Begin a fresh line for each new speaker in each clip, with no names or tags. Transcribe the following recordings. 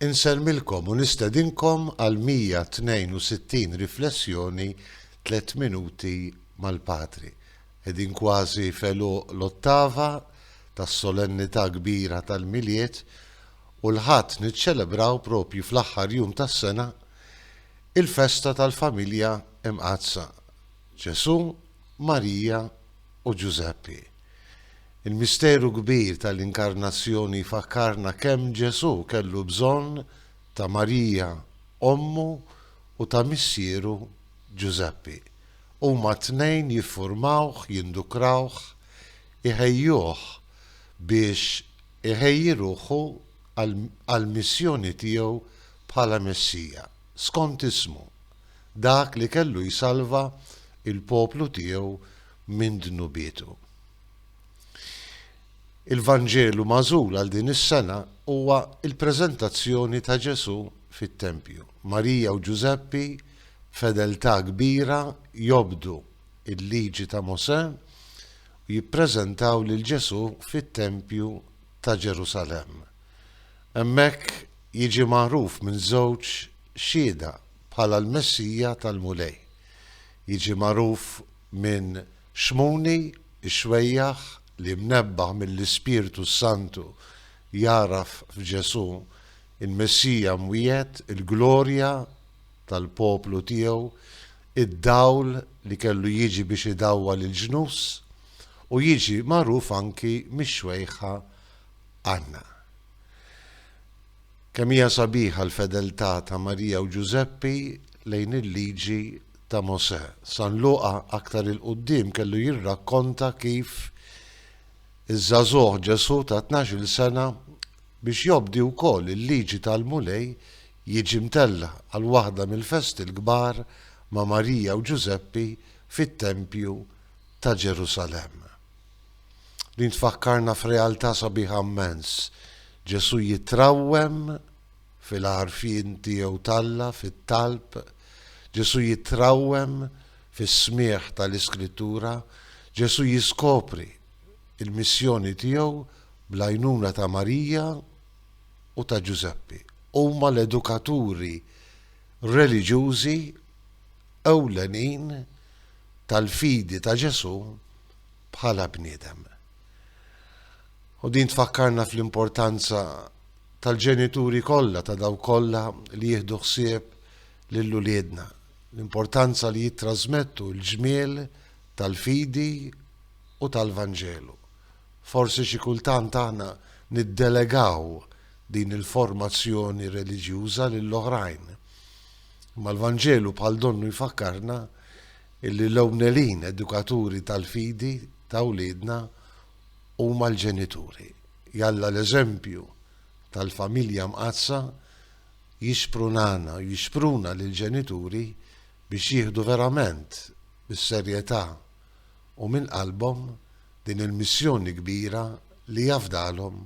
Insellmilkom u nistedinkom għal 162 riflessjoni Tliet Minuti mal-Patri. Qegħdin kważi f'għeluq l-Ottava tas-Solennità Kbira tal-Milied u l-Ħadd niċċelebraw propju fl-aħħar jum tas-sena il-festa tal-Familja Imqaddsa, Ġesù, Marija u Ġużeppi. Il-misteru kbir tal-Inkarnazzjoni jfakkarna kemm Ġesù kellu bżonn ta' Marija ommu u ta' missieru Ġużeppi. Huma t-tnejn jiffurmawh, jindukrawh, iħejjuh biex iħejji ruħu għall-missjoni tiegħu bħala Messija, skont ismu, dak li kellu jsalva l-poplu tiegħu minn dnubietu. Il-Vanġelu magħżul għal din is-sena huwa l-preżentazzjoni ta' Ġesù fit-tempju. Marija u Ġużeppi b'fedeltà kbira jobdu l-Liġi ta' Mosè u jippreżentaw lil Ġesù fit-tempju ta' Ġerusalemm. Hemmhekk jiġi magħruf minn żewġ Xhieda bħala l-Messija tal-Mulej. Jiġi magħruf minn Xmuni, ix-xwejjaħ, li mnebbaħ mill-Ispirtu s-Santu jagħraf f'Ġesù, il-Messija mwiegħed, il-glorja tal-poplu tiegħu, id-dawl li kellu jiġi biex idawwal il-ġnus, u jiġi magħruf anki mix-xwejħa Anna. Kemm hija sabiħa l-fedeltà ta' Marija u Ġużeppi lejn il-Liġi ta' Mosè! San Luqa aktar 'il quddiem kellu jirrakkonta kif iż-żagħżugħ Ġesù ta' tnax-il sena biex jobdi wkoll il-Liġi tal-Mulej jiġi mtella' għal waħda mill-festi l-kbar ma' Marija u Ġużeppi fit-Tempju ta' Ġerusalemm. Din tfakkarna f'realtà sabiħa mmens. Ġesù jitrawwem fil-għarfien tiegħu t'Alla, fit-talb. Ġesù jitrawwem fis-smigħ tal-Iskrittura. Ġesù jiskopri l-missjoni tiegħu bl-għajnuna ta' Marija u ta' Ġużeppi. Huma l-edukaturi reliġjużi ewlenin tal-fidi ta' Ġesù bħala bniedem. U din tfakkarna fl-importanza tal-ġenituri kollha ta' daw kollha li jieħdu ħsieb lil uliedna, l-importanza li jittrażmettu l-ġmiel tal-fidi u tal-Vanġelu. Forsi xi kultant aħna niddelegaw din il-formazzjoni reliġjuża lil oħrajn. Imma l-Vanġelu bħal donnu jfakkarna illi l-ewwnelin edukaturi tal-fidi ta' wliedna huma l-ġenituri. Jalla l-eżempju tal-familja mqaddsa jixprunana u jixpruna lill-ġenituri biex jieħdu verament bis-serjetà u minn qalbhom din il-missjoni kbira li afdalhom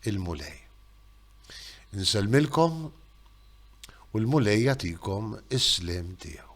il-Mulej. Insellmilkom u l-Mulej jagħtikom is-sliem tiegħu.